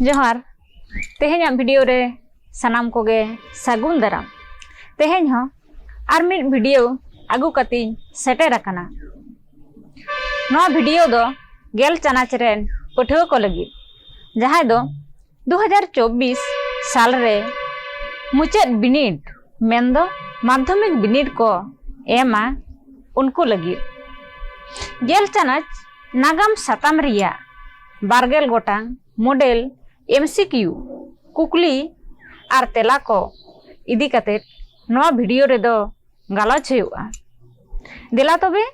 ᱡᱚᱦᱟᱨ ᱛᱮᱦᱮᱧᱟᱜ ᱵᱷᱤᱰᱤᱭᱳ ᱨᱮ ᱥᱟᱱᱟᱢ ᱠᱚᱜᱮ ᱥᱟᱹᱜᱩᱱ ᱫᱟᱨᱟᱢ ᱛᱮᱦᱮᱧ ᱦᱚᱸ ᱟᱨ ᱢᱤᱫ ᱵᱷᱤᱰᱤᱭᱳ ᱟᱹᱜᱩ ᱠᱟᱛᱮᱧ ᱥᱮᱴᱮᱨ ᱟᱠᱟᱱᱟ ᱱᱚᱣᱟ ᱵᱷᱤᱰᱤᱭᱳ ᱫᱚ ᱜᱮᱞ ᱪᱟᱱᱟᱪ ᱨᱮᱱ ᱯᱟᱹᱴᱷᱩᱣᱟᱹ ᱠᱚ ᱞᱟᱹᱜᱤᱫ ᱡᱟᱦᱟᱸᱭ ᱫᱚ 2024 ᱥᱟᱞ ᱨᱮ ᱢᱩᱪᱟᱹᱫ ᱵᱤᱱᱤᱰ ᱢᱮᱱᱫᱚ ᱢᱟᱫᱷᱚᱢᱤᱠ ᱵᱤᱱᱤᱰ ᱠᱚ ᱮᱢᱟ ᱩᱱᱠᱩ ᱞᱟᱹᱜᱤᱫ ᱜᱮᱞ ᱪᱟᱱᱟᱪ ᱱᱟᱜᱟᱢ ᱥᱟᱛᱟᱢ ᱨᱮᱭᱟᱜ ᱵᱟᱨᱜᱮᱞ ᱜᱚᱴᱟᱝ ᱢᱚᱰᱮᱞ ᱮᱢᱥᱤᱠᱤᱭᱩ ᱠᱩᱠᱞᱤ ᱟᱨ ᱛᱮᱞᱟ ᱠᱚ ᱤᱫᱤ ᱠᱟᱛᱮ ᱱᱚᱣᱟ ᱵᱷᱤᱰᱤᱭᱳ ᱨᱮᱫᱚ ᱜᱟᱞᱚᱪ ᱦᱩᱭᱩᱜᱼᱟ ᱫᱮᱞᱟ ᱛᱚᱵᱮ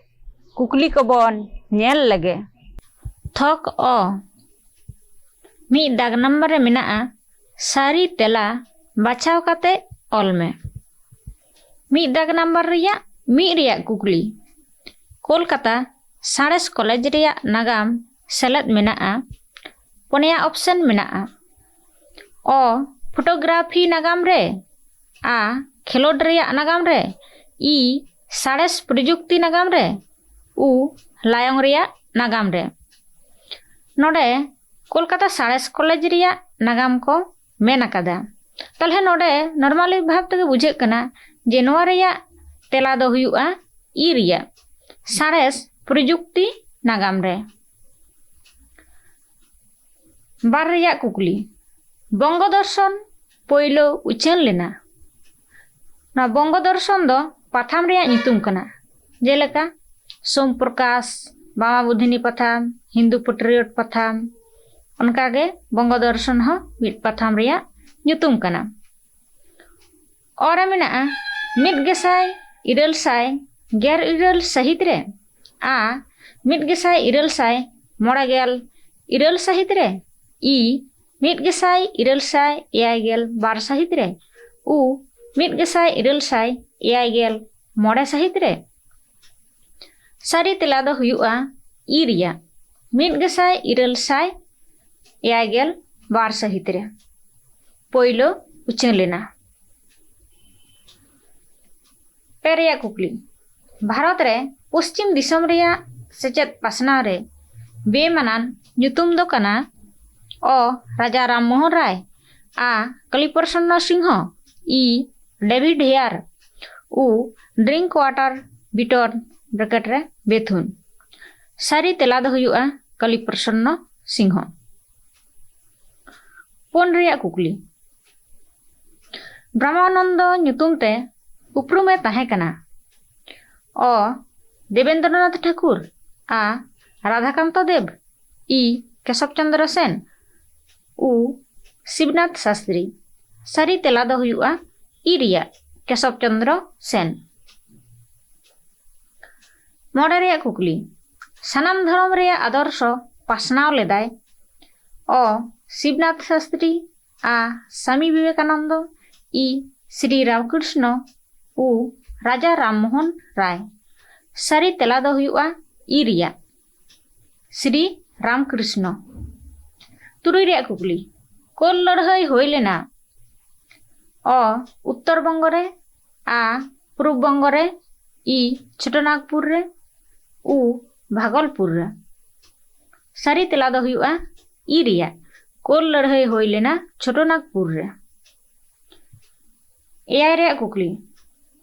ᱠᱩᱠᱞᱤ ᱠᱚᱵᱚᱱ ᱧᱮᱞ ᱞᱮᱜᱮ ᱛᱷᱚᱠ ᱚ ᱢᱤᱫ ᱫᱟᱜᱽ ᱱᱟᱢᱵᱟᱨ ᱨᱮ ᱢᱮᱱᱟᱜᱼᱟ ᱥᱟᱹᱨᱤ ᱛᱮᱞᱟ ᱵᱟᱪᱷᱟᱣ ᱠᱟᱛᱮ ᱚᱞ ᱢᱮ ᱢᱤᱫ ᱫᱟᱜᱽ ᱱᱟᱢᱵᱟᱨ ᱨᱮᱭᱟᱜ ᱢᱤᱫ ᱨᱮᱭᱟᱜ ᱠᱩᱠᱞᱤ ᱠᱳᱞᱠᱟᱛᱟ ᱥᱟᱬᱮᱥ ᱠᱚᱞᱮᱡᱽ ᱨᱮᱭᱟᱜ ᱱᱟᱜᱟᱢ ᱥᱮᱞᱮᱫ ᱢᱮᱱᱟᱜᱼᱟ ᱯᱩᱱᱭᱟ ᱚᱯᱷᱥᱮᱱ ᱢᱮᱱᱟᱜᱼᱟ ᱚ ᱯᱷᱳᱴᱳᱜᱨᱟᱯᱷᱤ ᱱᱟᱜᱟᱢ ᱨᱮ ᱟ ᱠᱷᱮᱞᱳᱰ ᱨᱮᱭᱟᱜ ᱱᱟᱜᱟᱢ ᱨᱮ ᱤ ᱥᱟᱬᱮᱥ ᱯᱨᱚᱡᱩᱠᱛᱤ ᱱᱟᱜᱟᱢ ᱨᱮ ᱩ ᱞᱟᱭᱚᱝ ᱨᱮᱭᱟᱜ ᱱᱟᱜᱟᱢ ᱨᱮ ᱱᱚᱰᱮ ᱠᱳᱞᱠᱟᱛᱟ ᱥᱟᱬᱮᱥ ᱠᱚᱞᱮᱡᱽ ᱨᱮᱭᱟᱜ ᱱᱟᱜᱟᱢ ᱠᱚ ᱢᱮᱱ ᱟᱠᱟᱫᱟ ᱛᱟᱦᱚᱞᱮ ᱱᱚᱰᱮ ᱱᱚᱨᱢᱟᱞᱤ ᱵᱷᱟᱵᱽ ᱛᱮᱜᱮ ᱵᱩᱡᱷᱟᱹᱜ ᱠᱟᱱᱟ ᱡᱮ ᱱᱚᱣᱟ ᱨᱮᱭᱟᱜ ᱛᱮᱞᱟ ᱫᱚ ᱦᱩᱭᱩᱜᱼᱟ ᱤ ᱨᱮᱭᱟᱜ ᱥᱟᱬᱮᱥ ᱯᱨᱚᱡᱩᱠᱛᱤ ᱱᱟᱜᱟᱢ ᱨᱮ ᱵᱟᱨ ᱨᱮᱭᱟᱜ ᱠᱩᱠᱞᱤ ᱵᱚᱝᱜᱚ ᱫᱚᱨᱥᱚᱱ ᱯᱳᱭᱞᱳ ᱩᱪᱷᱟᱹᱱ ᱞᱮᱱᱟ ᱱᱚᱣᱟ ᱵᱚᱝᱜᱚ ᱫᱚᱨᱥᱚᱱ ᱫᱚ ᱯᱟᱛᱷᱟᱢ ᱨᱮᱭᱟᱜ ᱧᱩᱛᱩᱢ ᱠᱟᱱᱟ ᱡᱮᱞᱮᱠᱟ ᱥᱳᱢ ᱯᱨᱚᱠᱟᱥ ᱵᱟᱢᱟ ᱵᱩᱫᱷᱤᱱᱤ ᱯᱟᱛᱷᱟᱢ ᱦᱤᱱᱫᱩ ᱯᱮᱴᱨᱤᱭᱚᱴ ᱯᱟᱛᱷᱟᱢ ᱚᱱᱠᱟᱜᱮ ᱵᱚᱝᱜᱚ ᱫᱚᱨᱥᱚᱱ ᱦᱚᱸ ᱢᱤᱫ ᱯᱟᱛᱷᱟᱢ ᱨᱮᱭᱟᱜ ᱧᱩᱛᱩᱢ ᱠᱟᱱᱟ ᱚᱨ ᱢᱮᱱᱟᱜᱼᱟ ᱢᱤᱫ ᱜᱮᱥᱟᱭ ᱤᱨᱟᱹᱞ ᱥᱟᱭ ᱜᱮᱨ ᱤᱨᱟᱹᱞ ᱥᱟᱹᱦᱤᱛ ᱨᱮ ᱟ ᱢᱤᱫ ᱜᱮᱥᱟᱭ ᱤᱨᱟᱹᱞ ᱥᱟᱭ ᱢᱚᱬᱮ ᱜᱮᱞ ᱤᱨᱟᱹᱞ ᱥᱟᱹᱦᱤᱛ ᱨᱮ ᱤ ᱢᱤᱫ ᱜᱮᱥᱟᱭ ᱤᱨᱟᱹᱞ ᱥᱟᱭ ᱮᱭᱟᱭ ᱜᱮᱞ ᱵᱟᱨ ᱥᱟᱹᱦᱤᱛ ᱨᱮ ᱩ ᱢᱤᱫ ᱜᱮᱥᱟᱭ ᱤᱨᱟᱹᱞ ᱥᱟᱭ ᱮᱭᱟᱭ ᱜᱮᱞ ᱢᱚᱬᱮ ᱥᱟᱹᱦᱤᱛ ᱨᱮ ᱥᱟᱹᱨᱤ ᱛᱮᱞᱟ ᱫᱚ ᱦᱩᱭᱩᱜᱼᱟ ᱤ ᱨᱮᱭᱟᱜ ᱢᱤᱫ ᱜᱮᱥᱟᱭ ᱤᱨᱟᱹᱞ ᱥᱟᱭ ᱮᱭᱟᱭ ᱜᱮᱞ ᱵᱟᱨ ᱥᱟᱹᱦᱤᱛ ᱨᱮ ᱯᱳᱭᱞᱳ ᱩᱪᱷᱟᱹᱱ ᱞᱮᱱᱟ ᱯᱮ ᱨᱮᱭᱟᱜ ᱠᱩᱠᱞᱤ ᱵᱷᱟᱨᱚᱛ ᱨᱮ ᱯᱚᱥᱪᱤᱢ ᱫᱤᱥᱚᱢ ᱨᱮᱭᱟᱜ ᱥᱮᱪᱮᱫ ᱯᱟᱥᱱᱟᱣ ᱨᱮ ᱵᱮᱢᱟᱱᱟᱱ ᱧᱩᱛᱩᱢ ᱫᱚ ᱠᱟᱱᱟ ᱚ ᱨᱟᱡᱟ ᱨᱟᱢ ᱢᱳᱦᱚᱱ ᱨᱟᱭ ᱟ ᱠᱟᱞᱤᱯᱨᱚᱥᱚᱱᱱᱚ ᱥᱤᱝᱦᱚ ᱤ ᱰᱮᱵᱷᱤᱰ ᱦᱮᱭᱟᱨ ᱩ ᱰᱨᱤᱝᱠ ᱣᱟᱴᱟᱨ ᱵᱤᱴᱚᱨ ᱵᱨᱮᱠᱮᱴ ᱨᱮ ᱵᱮᱛᱷᱩᱱ ᱥᱟᱹᱨᱤ ᱛᱮᱞᱟ ᱫᱚ ᱦᱩᱭᱩᱜᱼᱟ ᱠᱟᱞᱤᱯᱨᱚᱥᱚᱱᱱᱚ ᱥᱤᱝᱦᱚ ᱯᱩᱱ ᱨᱮᱭᱟᱜ ᱠᱩᱠᱞᱤ ᱵᱨᱟᱦᱢᱟᱱᱚᱱᱫᱚ ᱧᱩᱛᱩᱢ ᱛᱮ ᱩᱯᱨᱩᱢᱮ ᱛᱟᱦᱮᱸ ᱠᱟᱱᱟ ᱚ ᱫᱮᱵᱮᱱᱫᱨᱚᱱᱟᱛᱷ ᱴᱷᱟᱠᱩᱨ ᱟ ᱨᱟᱫᱷᱟᱠᱟᱱᱛᱚ ᱫᱮᱵᱽ ᱤ ᱠᱮᱥᱚᱵ ᱪᱚᱱᱫᱨᱚ ᱥᱮᱱ ᱩ ᱥᱤᱵᱱᱟᱛᱷ ᱥᱟᱥᱛᱨᱤ ᱥᱟᱹᱨᱤ ᱛᱮᱞᱟ ᱫᱚ ᱦᱩᱭᱩᱜᱼᱟ ᱤ ᱨᱮᱭᱟᱜ ᱠᱮᱥᱚᱵ ᱪᱚᱱᱫᱨᱚ ᱥᱮᱱ ᱢᱚᱬᱮ ᱨᱮᱭᱟᱜ ᱠᱩᱠᱞᱤ ᱥᱟᱱᱟᱢ ᱫᱷᱚᱨᱚᱢ ᱨᱮᱭᱟᱜ ᱟᱫᱚᱨᱥᱚ ᱯᱟᱥᱱᱟᱣ ᱞᱮᱫᱟᱭ ᱚ ᱥᱤᱵᱱᱟᱛᱷ ᱥᱟᱥᱛᱨᱤ ᱟ ᱥᱟᱢᱤ ᱵᱤᱵᱮᱠᱟᱱᱚᱱᱫᱚ ᱤ ᱥᱨᱤ ᱨᱟᱢᱠᱨᱤᱥᱱᱚ ᱩ ᱨᱟᱡᱟ ᱨᱟᱢ ᱢᱳᱦᱚᱱ ᱨᱟᱭ ᱥᱟᱹᱨᱤ ᱛᱮᱞᱟ ᱫᱚ ᱦᱩᱭᱩᱜᱼᱟ ᱤ ᱨᱮᱭᱟᱜ ᱥᱨᱤ ᱨᱟᱢᱠᱨᱤᱥᱱᱚ ᱛᱩᱨᱩᱭ ᱨᱮᱭᱟᱜ ᱠᱩᱠᱞᱤ ᱠᱳᱞ ᱞᱟᱹᱲᱦᱟᱹᱭ ᱦᱩᱭ ᱞᱮᱱᱟ ᱚ ᱩᱛᱛᱚᱨ ᱵᱚᱝᱜᱚ ᱨᱮ ᱟ ᱯᱩᱨᱩᱵ ᱵᱚᱝᱜᱚ ᱨᱮ ᱤ ᱪᱷᱳᱴᱚᱱᱟᱜᱽᱯᱩᱨ ᱨᱮ ᱩ ᱵᱷᱟᱜᱚᱞᱯᱩᱨ ᱨᱮ ᱥᱟᱹᱨᱤ ᱛᱮᱞᱟ ᱫᱚ ᱦᱩᱭᱩᱜᱼᱟ ᱤ ᱨᱮᱭᱟᱜ ᱠᱳᱞ ᱞᱟᱹᱲᱦᱟᱹᱭ ᱦᱩᱭ ᱞᱮᱱᱟ ᱪᱷᱳᱴᱚᱱᱟᱜᱽᱯᱩᱨ ᱨᱮ ᱮᱭᱟᱭ ᱨᱮᱭᱟᱜ ᱠᱩᱠᱞᱤ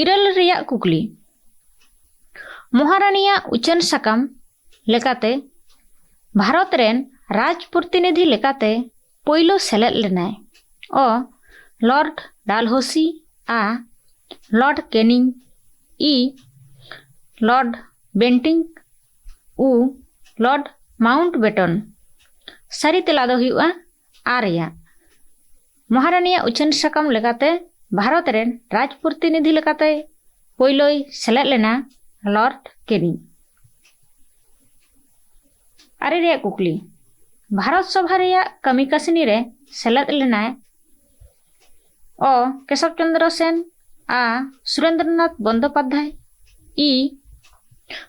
ᱤᱨᱟᱹᱞ ᱨᱮᱭᱟᱜ ᱠᱩᱠᱞᱤ ᱢᱚᱦᱟᱨᱟᱱᱤᱭᱟᱜ ᱩᱪᱷᱟᱹᱱ ᱥᱟᱠᱟᱢ ᱞᱮᱠᱟᱛᱮ ᱵᱷᱟᱨᱚᱛ ᱨᱮᱱ ᱨᱟᱡᱽ ᱯᱨᱚᱛᱤᱱᱤᱫᱷᱤ ᱞᱮᱠᱟᱛᱮ ᱯᱳᱭᱞᱳ ᱥᱮᱞᱮᱫ ᱞᱮᱱᱟᱭ ᱚ ᱞᱚᱨᱰ ᱰᱟᱞᱦᱳᱥᱤ ᱟ ᱞᱚᱨᱰ ᱠᱮᱱᱤᱝ ᱤ ᱞᱚᱨᱰ ᱵᱮᱱᱴᱤᱝ ᱩ ᱞᱚᱨᱰ ᱢᱟᱣᱩᱱᱴ ᱵᱮᱴᱚᱱ ᱥᱟᱹᱨᱤ ᱛᱮᱞᱟ ᱫᱚ ᱦᱩᱭᱩᱜᱼᱟ ᱟᱨᱭᱟ ᱢᱚᱦᱟᱨᱟᱱᱤᱭᱟᱜ ᱩᱪᱷᱟᱹᱱ ᱥᱟᱠᱟᱢ ᱞᱮᱠᱟᱛᱮ ᱵᱷᱟᱨᱚᱛ ᱨᱮᱱ ᱨᱟᱡᱽ ᱯᱨᱚᱛᱤᱱᱤᱫᱷᱤ ᱞᱮᱠᱟᱛᱮ ᱯᱳᱭᱞᱳᱭ ᱥᱮᱞᱮᱫ ᱞᱮᱱᱟ ᱞᱚᱨᱰ ᱠᱮᱱᱤ ᱟᱨᱮ ᱨᱮᱭᱟᱜ ᱠᱩᱠᱞᱤ ᱵᱷᱟᱨᱚᱛ ᱥᱚᱵᱷᱟ ᱨᱮᱭᱟᱜ ᱠᱟᱹᱢᱤ ᱠᱟᱹᱥᱱᱤ ᱨᱮ ᱥᱮᱞᱮᱫ ᱞᱮᱱᱟᱭ ᱚ ᱠᱮᱥᱚᱵ ᱪᱚᱱᱫᱨᱚ ᱥᱮᱱ ᱟ ᱥᱩᱨᱮᱱᱫᱨᱚᱱᱟᱛᱷ ᱵᱚᱱᱫᱳᱯᱟᱫᱽᱫᱷᱟᱭ ᱤ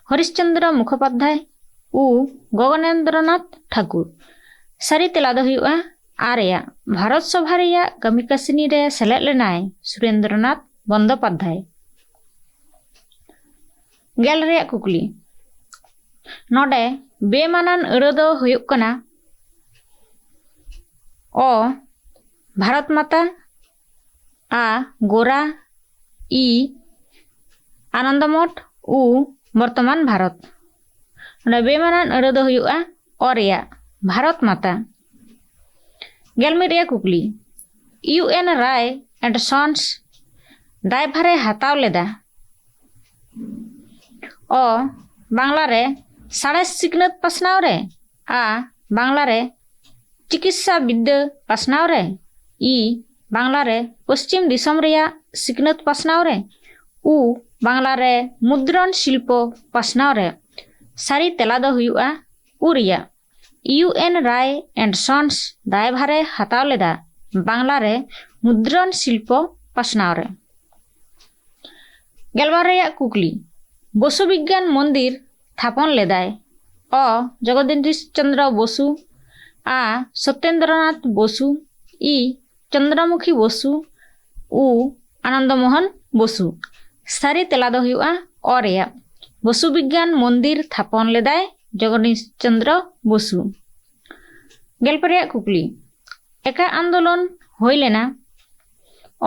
ᱦᱚᱨᱤᱥᱪᱚᱱᱫᱨᱚ ᱢᱩᱠᱷᱳᱯᱟᱫᱽᱫᱷᱟᱭ ᱩ ᱜᱚᱜᱚᱱᱮᱱᱫᱨᱚᱱᱟᱛᱷ ᱴᱷᱟᱠᱩᱨ ᱥᱟᱹᱨᱤ ᱛᱮᱞᱟ ᱫᱚ ᱦᱩᱭᱩᱜᱼᱟ ᱟᱨᱮᱭᱟᱜ ᱵᱷᱟᱨᱚᱛ ᱥᱚᱵᱷᱟ ᱨᱮᱭᱟᱜ ᱠᱟᱹᱢᱤ ᱠᱟᱹᱥᱱᱤ ᱨᱮ ᱥᱮᱞᱮᱫ ᱞᱮᱱᱟᱭ ᱥᱩᱨᱮᱱᱫᱨᱚᱱᱟᱛᱷ ᱵᱚᱱᱫᱚᱯᱟᱫᱽᱫᱷᱟᱭ᱾ ᱜᱮᱞ ᱨᱮᱭᱟᱜ ᱠᱩᱠᱞᱤ ᱱᱚᱰᱮ ᱵᱮᱢᱟᱱᱟᱱ ᱟᱹᱲᱟᱹ ᱫᱚ ᱦᱩᱭᱩᱜ ᱠᱟᱱᱟ ᱚ ᱵᱷᱟᱨᱚᱛ ᱢᱟᱛᱟ ᱟ ᱜᱳᱨᱟ ᱤ ᱟᱱᱚᱱᱫᱚᱢᱚᱴ ᱩ ᱵᱚᱨᱛᱚᱢᱟᱱ ᱵᱷᱟᱨᱚᱛ ᱱᱚᱰᱮ ᱵᱮᱢᱟᱱᱟᱱ ᱟᱹᱲᱟᱹ ᱫᱚ ᱦᱩᱭᱩᱜᱼᱟ ᱚ ᱨᱮᱭᱟᱜ ᱵᱷᱟᱨᱚᱛ ᱢᱟᱛᱟ ᱜᱮᱞ ᱢᱤᱫ ᱨᱮᱭᱟᱜ ᱠᱩᱠᱞᱤ U N Ray and sons ᱫᱟᱭᱵᱷᱟᱨᱮ ᱦᱟᱛᱟᱣ ᱞᱮᱫᱟ ᱚ ᱵᱟᱝᱞᱟ ᱨᱮ ᱥᱟᱬᱮᱥ ᱥᱤᱠᱷᱱᱟᱹᱛ ᱯᱟᱥᱱᱟᱣ ᱨᱮ ᱟ ᱵᱟᱝᱞᱟ ᱨᱮ ᱪᱤᱠᱤᱛᱥᱟ ᱵᱤᱫᱽᱫᱟᱹ ᱯᱟᱥᱱᱟᱣ ᱨᱮ ᱤ ᱵᱟᱝᱞᱟ ᱨᱮ ᱯᱚᱥᱪᱤᱢ ᱫᱤᱥᱚᱢ ᱨᱮᱭᱟᱜ ᱥᱤᱠᱷᱱᱟᱹᱛ ᱯᱟᱥᱱᱟᱣ ᱨᱮ ᱩ ᱵᱟᱝᱞᱟ ᱨᱮ ᱢᱩᱫᱽᱨᱚᱱ ᱥᱤᱞᱯᱚ ᱯᱟᱥᱱᱟᱣ ᱨᱮ ᱥᱟᱹᱨᱤ ᱛᱮᱞᱟ ᱫᱚ ᱦᱩᱭᱩᱜᱼᱟ ᱩ ᱨᱮᱭᱟᱜ U N Ray and sons ᱫᱟᱭᱵᱷᱟᱨ ᱮ ᱦᱟᱛᱟᱣ ᱞᱮᱫᱟ ᱵᱟᱝᱞᱟ ᱨᱮ ᱢᱩᱫᱽᱨᱚᱱ ᱥᱤᱞᱯᱚ ᱯᱟᱥᱱᱟᱣ ᱨᱮ᱾ ᱜᱮᱞᱵᱟᱨ ᱨᱮᱭᱟᱜ ᱠᱩᱠᱞᱤ ᱵᱚᱥᱩ ᱵᱤᱜᱽᱜᱟᱱ ᱢᱚᱱᱫᱤᱨ ᱛᱷᱟᱯᱚᱱ ᱞᱮᱫᱟᱭ ᱚ ᱡᱚᱜᱚᱫᱤᱱᱫᱤᱥ ᱪᱚᱱᱫᱽᱨᱚ ᱵᱚᱥᱩ ᱟ ᱥᱚᱛᱮᱱᱫᱽᱨᱚᱱᱟᱛᱷ ᱵᱚᱥᱩ ᱤ ᱪᱚᱱᱫᱨᱚᱢᱩᱠᱷᱤ ᱵᱚᱥᱩ ᱩ ᱟᱱᱚᱱᱫᱚ ᱢᱚᱦᱚᱱ ᱵᱚᱥᱩ ᱥᱟᱹᱨᱤ ᱛᱮᱞᱟ ᱫᱚ ᱦᱩᱭᱩᱜᱼᱟ ᱚ ᱨᱮᱭᱟᱜ ᱵᱚᱥᱩ ᱵᱤᱜᱽᱜᱟᱱ ᱢᱚᱱᱫᱤᱨ ᱛᱷᱟᱯᱚᱱ ᱞᱮᱫᱟᱭ ᱡᱚᱜᱚᱱᱤᱥ ᱪᱚᱱᱫᱨᱚ ᱵᱚᱥᱩ ᱜᱮᱞᱯᱮ ᱨᱮᱭᱟᱜ ᱠᱩᱠᱞᱤ ᱮᱠᱟ ᱟᱱᱫᱳᱞᱚᱱ ᱦᱩᱭ ᱞᱮᱱᱟ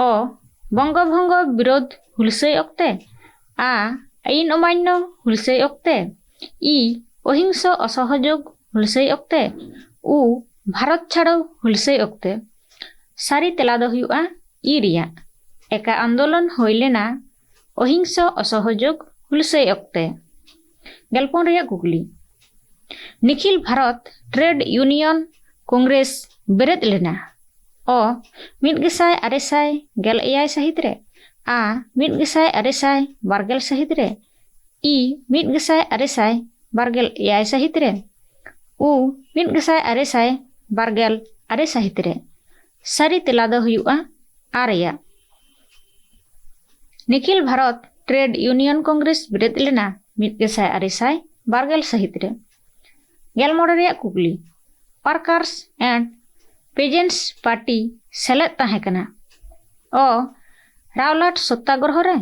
ᱚ ᱵᱚᱝᱜᱚ ᱵᱷᱚᱝᱜᱚ ᱵᱤᱨᱳᱫᱷ ᱦᱩᱞᱥᱟᱹᱭ ᱚᱠᱛᱮ ᱟ ᱟᱭᱤᱱ ᱚᱢᱟᱱᱱᱚ ᱦᱩᱞᱥᱟᱹᱭ ᱚᱠᱛᱮ ii, ᱚᱦᱤᱝᱥᱚ ᱚᱥᱚᱦᱚᱡᱳᱜᱽ ᱦᱩᱞᱥᱟᱹᱭ ᱚᱠᱛᱮ, uu, ᱵᱷᱟᱨᱚᱛ ᱪᱷᱟᱲᱚ ᱦᱩᱞᱥᱟᱹᱭ ᱚᱠᱛᱮ᱾ ᱥᱟᱹᱨᱤ ᱛᱮᱞᱟ ᱫᱚ ᱦᱩᱭᱩᱜᱼᱟ ᱤ ᱨᱮᱭᱟᱜ᱾ ᱮᱠᱟ ᱟᱱᱫᱳᱞᱚᱱ ᱦᱩᱭ ᱞᱮᱱᱟ ᱚᱦᱤᱝᱥᱚ ᱚᱥᱚᱦᱚᱡᱳᱜᱽ ᱦᱩᱞᱥᱟᱹᱭ ᱚᱠᱛᱮ᱾ ᱜᱮᱞᱯᱩᱱ ᱨᱮᱭᱟᱜ ᱠᱩᱠᱞᱤ, Nikhil Bharat trade union congress ᱵᱮᱨᱮᱫ ᱞᱮᱱᱟ ᱚ ᱢᱤᱫ ᱜᱮᱥᱟᱭ ᱟᱨᱮ ᱥᱟᱭ ᱜᱮᱞ ᱮᱭᱟᱭ ᱥᱟᱹᱦᱤᱛ ᱨᱮ, ᱟ ᱢᱤᱫ ᱜᱮᱥᱟᱭ ᱟᱨᱮ ᱥᱟᱭ ᱵᱟᱨᱜᱮᱞ ᱥᱟᱹᱦᱤᱛ ᱨᱮ, ᱤ ᱢᱤᱫ ᱜᱮᱥᱟᱭ ᱟᱨᱮ ᱥᱟᱭ ᱵᱟᱨᱜᱮᱞ ᱮᱭᱟᱭ ᱥᱟᱹᱦᱤᱛ ᱨᱮ ᱩ ᱢᱤᱫ ᱜᱮᱥᱟᱭ ᱟᱨᱮ ᱥᱟᱭ ᱵᱟᱨᱜᱮᱞ ᱟᱨᱮ ᱥᱟᱹᱦᱤᱛ ᱨᱮ ᱥᱟᱹᱨᱤ ᱛᱮᱞᱟ ᱫᱚ ᱦᱩᱭᱩᱜᱼᱟ ᱟᱨ ᱨᱮᱭᱟᱜ Nikhil Bharat trade union congress ᱵᱮᱨᱮᱫ ᱞᱮᱱᱟ ᱢᱤᱫ ᱜᱮᱥᱟᱭ ᱟᱨᱮ ᱥᱟᱭ ᱵᱟᱨᱜᱮᱞ ᱥᱟᱹᱦᱤᱛ ᱨᱮ ᱜᱮᱞ ᱢᱚᱬᱮ ᱨᱮᱭᱟᱜ ᱠᱩᱠᱞᱤ ᱯᱟᱨᱠᱟᱨᱥ ᱮᱱᱰ ᱯᱮᱡᱮᱱᱴᱥ ᱯᱟᱨᱴᱤ ᱥᱮᱞᱮᱫ ᱛᱟᱦᱮᱸ ᱠᱟᱱᱟ ᱚ ᱨᱟᱣᱞᱟᱴ ᱥᱚᱛᱛᱟᱜᱨᱚᱦᱚ ᱨᱮ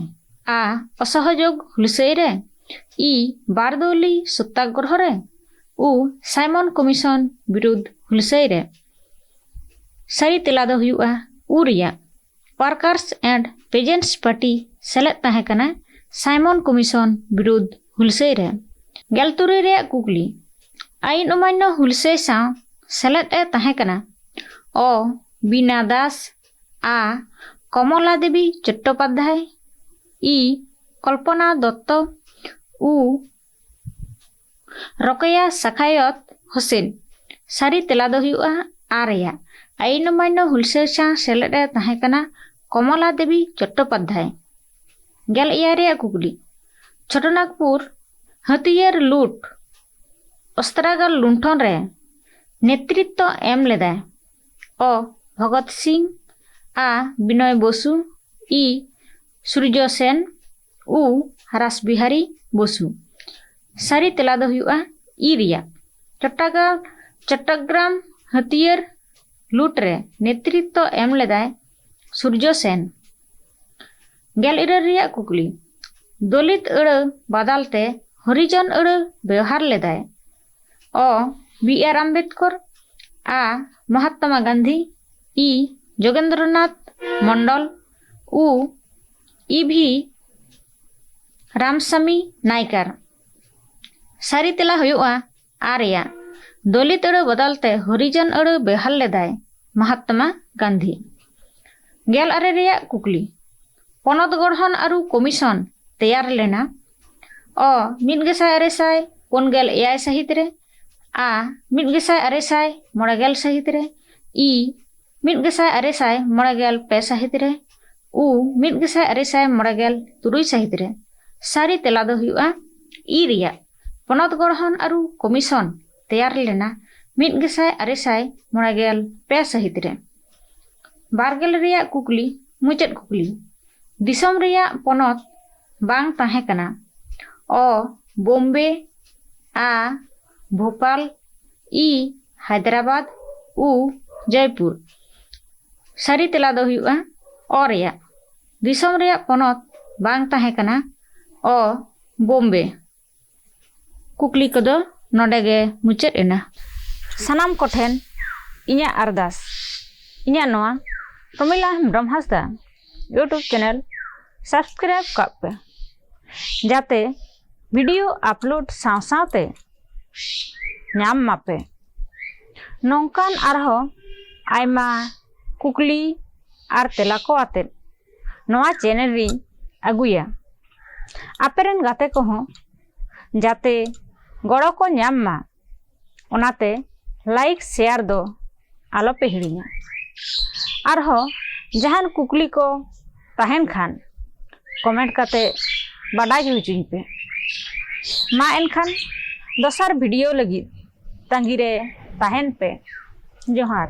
ᱟ ᱚᱥᱚᱦᱚᱡᱳᱜᱽ ᱦᱩᱞᱥᱟᱹᱭ ᱨᱮ ᱤ ᱵᱟᱨᱫᱚᱞᱤ ᱥᱚᱛᱛᱟᱜᱨᱚᱦᱚ ᱨᱮ ᱩ ᱥᱟᱭᱢᱚᱱ ᱠᱚᱢᱤᱥᱚᱱ ᱵᱤᱨᱩᱫᱽ ᱦᱩᱞᱥᱟᱹᱭ ᱨᱮ ᱥᱟᱹᱨᱤ ᱛᱮᱞᱟ ᱫᱚ ᱦᱩᱭᱩᱜᱼᱟ ᱩ ᱨᱮᱭᱟᱜ ᱣᱟᱨᱠᱟᱨᱥ ᱮᱱᱰ ᱯᱮᱡᱮᱱᱴᱥ ᱯᱟᱨᱴᱤ ᱥᱮᱞᱮᱫ ᱛᱟᱦᱮᱸ ᱠᱟᱱᱟ ᱥᱟᱭᱢᱚᱱ ᱠᱚᱢᱤᱥᱚᱱ ᱵᱤᱨᱩᱫᱷ ᱦᱩᱞᱥᱟᱹᱭ ᱨᱮ᱾ ᱜᱮᱞ ᱛᱩᱨᱩᱭ ᱨᱮᱭᱟᱜ ᱠᱩᱠᱞᱤ ᱟᱭᱤᱱ ᱚᱢᱟᱱᱭᱚ ᱦᱩᱞᱥᱟᱹᱭ ᱥᱟᱶ ᱥᱮᱞᱮᱫ ᱮ ᱛᱟᱦᱮᱸ ᱠᱟᱱᱟ ᱚ ᱵᱤᱱᱟ ᱫᱟᱥ ᱟ ᱠᱚᱢᱚᱞᱟ ᱫᱮᱵᱤ ᱪᱚᱴᱴᱚᱯᱟᱫᱷᱭᱟᱭ ᱤ ᱠᱚᱞᱯᱚᱱᱟ ᱫᱚᱛᱛᱚ ᱩ ᱨᱚᱠᱮᱭᱟ ᱥᱟᱠᱷᱟᱭᱚᱛ ᱦᱳᱥᱮᱱ ᱥᱟᱹᱨᱤ ᱛᱮᱞᱟ ᱫᱚ ᱦᱩᱭᱩᱜᱼᱟ ᱟᱨᱭᱟ ᱟᱭᱤᱱ ᱚᱢᱟᱭᱱᱚ ᱦᱩᱞᱥᱟᱹᱭ ᱥᱟᱶ ᱥᱮᱞᱮᱫ ᱨᱮ ᱛᱟᱦᱮᱸ ᱠᱟᱱᱟ ᱠᱚᱢᱚᱞᱟ ᱫᱮᱵᱤ ᱪᱚᱴᱴᱳᱯᱟᱫᱽᱫᱷᱟᱭ ᱜᱮᱞ ᱮᱭᱟᱭ ᱨᱮᱭᱟᱜ ᱠᱩᱠᱞᱤ ᱪᱷᱳᱴᱳᱱᱟᱜᱽᱯᱩᱨ ᱦᱟᱹᱛᱤᱭᱟᱹᱨ ᱞᱩᱴ ᱚᱥᱛᱨᱟᱜᱟᱨ ᱞᱩᱱᱴᱷᱚᱱ ᱨᱮ ᱱᱮᱛᱨᱤᱛᱛᱚ ᱮᱢ ᱞᱮᱫᱟᱭ ᱚ ᱵᱷᱚᱜᱚᱛ ᱥᱤᱝ ᱟ ᱵᱤᱱᱚᱭ ᱵᱚᱥᱩ ᱤ ᱥᱩᱨᱡᱚ ᱥᱮᱱ ᱩ ᱨᱟᱥ ᱵᱤᱦᱟᱨᱤ ᱵᱚᱥᱩ ᱥᱟᱹᱨᱤ ᱛᱮᱞᱟ ᱫᱚ ᱦᱩᱭᱩᱜᱼᱟ ᱤ ᱨᱮᱭᱟᱜ ᱪᱚᱴᱴᱟᱜᱟᱲ ᱪᱚᱴᱴᱚᱜᱨᱟᱢ ᱦᱟᱹᱛᱭᱟᱹᱨ ᱞᱩᱴ ᱨᱮ ᱱᱮᱛᱨᱤᱛᱛᱚ ᱮᱢ ᱞᱮᱫᱟᱭ ᱥᱩᱨᱡᱚ ᱥᱮᱱ ᱜᱮᱞ ᱤᱨᱟᱹᱞ ᱨᱮᱭᱟᱜ ᱠᱩᱠᱞᱤ ᱫᱚᱞᱤᱛ ᱟᱹᱲᱟᱹ ᱵᱟᱫᱟᱞ ᱛᱮ ᱦᱚᱨᱤᱡᱚᱱ ᱟᱹᱲᱟᱹ ᱵᱮᱣᱦᱟᱨ ᱞᱮᱫᱟᱭ ᱚ ᱵᱤ ᱟᱨ ᱟᱢᱵᱮᱫᱠᱚᱨ ᱟ ᱢᱚᱦᱟᱛᱢᱟ ᱜᱟᱱᱫᱷᱤ ᱤ ᱡᱳᱜᱮᱱᱫᱨᱚᱱᱟᱛᱷ ᱢᱚᱱᱰᱚᱞ ও ᱤᱵᱷᱤ ᱨᱟᱢᱥᱟᱢᱤ ᱱᱟᱭᱠᱟᱨ ᱥᱟᱹᱨᱤ ᱛᱮᱞᱟ ᱦᱩᱭᱩᱜᱼᱟ ᱟᱨ ᱨᱮᱭᱟᱜ ᱫᱚᱞᱤᱛ ᱟᱹᱲᱟᱹ ᱵᱚᱫᱚᱞ ᱛᱮ ᱦᱚᱨᱤᱡᱚᱱ ᱟᱹᱲᱟᱹ ᱵᱮᱣᱦᱟᱨ ᱞᱮᱫᱟᱭ ᱢᱚᱦᱟᱛᱢᱟ ᱜᱟᱱᱫᱷᱤ ᱜᱮᱞ ᱟᱨᱮ ᱨᱮᱭᱟᱜ ᱠᱩᱠᱞᱤ ᱯᱚᱱᱚᱛ ᱜᱚᱲᱦᱚᱱ ᱟᱹᱨᱩ ᱠᱚᱢᱤᱥᱚᱱ ᱛᱮᱭᱟᱨ ᱞᱮᱱᱟ ᱚ ᱢᱤᱫ ᱜᱮᱥᱟᱭ ᱟᱨᱮ ᱥᱟᱭ ᱯᱩᱱ ᱜᱮᱞ ᱮᱭᱟᱭ ᱥᱟᱹᱦᱤᱛ ᱨᱮ ᱟ ᱢᱤᱫ ᱜᱮᱥᱟᱭ ᱟᱨᱮ ᱥᱟᱭ ᱢᱚᱬᱮ ᱜᱮᱞ ᱥᱟᱹᱦᱤᱛ ᱨᱮ ᱤ ᱢᱤᱫ ᱜᱮᱥᱟᱭ ᱟᱨᱮ ᱥᱟᱭ ᱢᱚᱬᱮ ᱜᱮᱞ ᱯᱮ ᱥᱟᱹᱦᱤᱛ ᱨᱮ ᱩ ᱢᱤᱫ ᱜᱮᱥᱟᱭ ᱟᱨᱮ ᱥᱟᱭ ᱢᱚᱬᱮ ᱜᱮᱞ ᱛᱩᱨᱩᱭ ᱥᱟᱹᱦᱤᱛ ᱨᱮ ᱥᱟᱹᱨᱤ ᱛᱮᱞᱟ ᱫᱚ ᱦᱩᱭᱩᱜᱼᱟ ᱤ ᱨᱮᱭᱟᱜ ᱯᱚᱱᱚᱛ ᱜᱚᱲᱦᱚᱱ ᱟᱹᱨᱩ ᱠᱚᱢᱤᱥᱚᱱ ᱛᱮᱭᱟᱨ ᱞᱮᱱᱟ ᱢᱤᱫ ᱜᱮᱥᱟᱭ ᱟᱨᱮ ᱥᱟᱭ ᱢᱚᱬᱮ ᱜᱮᱞ ᱯᱮ ᱥᱟᱹᱦᱤᱛ ᱨᱮ ᱵᱟᱨᱜᱮᱞ ᱨᱮᱭᱟᱜ ᱠᱩᱠᱞᱤ ᱢᱩᱪᱟᱹᱫ ᱠᱩᱠᱞᱤ ᱫᱤᱥᱚᱢ ᱨᱮᱭᱟᱜ ᱯᱚᱱᱚᱛ ᱵᱟᱝ ᱛᱟᱦᱮᱸ ᱠᱟᱱᱟ ᱚ ᱵᱳᱢᱵᱮ ᱟ ᱵᱷᱳᱯᱟᱞ ᱤ ᱦᱟᱭᱫᱨᱟᱵᱟᱫᱽ ᱩ ᱡᱚᱭᱯᱩᱨ ᱥᱟᱹᱨᱤ ᱛᱮᱞᱟ ᱫᱚ ᱦᱩᱭᱩᱜᱼᱟ ᱚ ᱨᱮᱭᱟᱜ ᱫᱤᱥᱚᱢ ᱨᱮᱭᱟᱜ ᱯᱚᱱᱚᱛ ᱵᱟᱝ ᱛᱟᱦᱮᱸ ᱠᱟᱱᱟ ᱚ ᱵᱳᱢᱵᱮ ᱠᱩᱠᱞᱤ ᱠᱚᱫᱚ ᱱᱚᱰᱮ ᱜᱮ ᱢᱩᱪᱟᱹᱫ ᱮᱱᱟ ᱥᱟᱱᱟᱢ ᱠᱚᱴᱷᱮᱱ ᱤᱧᱟᱹᱜ ᱟᱨᱫᱟᱥ ᱤᱧᱟᱹᱜ ᱱᱚᱣᱟ ᱯᱨᱚᱢᱤᱞᱟ ᱦᱮᱢᱵᱨᱚᱢ ᱦᱟᱸᱥᱫᱟ ᱤᱭᱩᱴᱩᱵᱽ ᱪᱮᱱᱮᱞ ᱥᱟᱵᱥᱠᱨᱟᱭᱤᱵᱽ ᱠᱟᱜ ᱯᱮ ᱡᱟᱛᱮ ᱵᱷᱤᱰᱤᱭᱳ ᱟᱯᱞᱳᱰ ᱥᱟᱶ ᱥᱟᱶᱛᱮ ᱧᱟᱢ ᱢᱟᱯᱮ ᱱᱚᱝᱠᱟᱱ ᱟᱨᱦᱚᱸ ᱟᱭᱢᱟ ᱠᱩᱠᱞᱤ ᱟᱨ ᱛᱮᱞᱟ ᱠᱚ ᱟᱛᱮᱫ ᱱᱚᱣᱟ ᱪᱮᱱᱮᱞ ᱨᱤᱧ ᱟᱹᱜᱩᱭᱟ ᱟᱯᱮ ᱨᱮᱱ ᱜᱟᱛᱮ ᱠᱚᱦᱚᱸ ᱡᱟᱛᱮ ᱜᱚᱲᱚ ᱠᱚ ᱧᱟᱢ ᱢᱟ ᱚᱱᱟᱛᱮ ᱞᱟᱭᱤᱠ ᱥᱮᱭᱟᱨ ᱫᱚ ᱟᱞᱚᱯᱮ ᱦᱤᱲᱤᱧᱟ ᱟᱨᱦᱚᱸ ᱡᱟᱦᱟᱱ ᱠᱩᱠᱞᱤ ᱠᱚ ᱛᱟᱦᱮᱱ ᱠᱷᱟᱱ ᱠᱚᱢᱮᱱᱴ ᱠᱟᱛᱮ ᱵᱟᱰᱟᱭ ᱦᱚᱪᱚᱧ ᱯᱮ ᱢᱟ ᱮᱱᱠᱷᱟᱱ ᱫᱚᱥᱟᱨ ᱵᱷᱤᱰᱤᱭᱳ ᱞᱟᱹᱜᱤᱫ ᱛᱟᱺᱜᱤᱨᱮ ᱛᱟᱦᱮᱱ ᱯᱮ ᱡᱚᱦᱟᱨ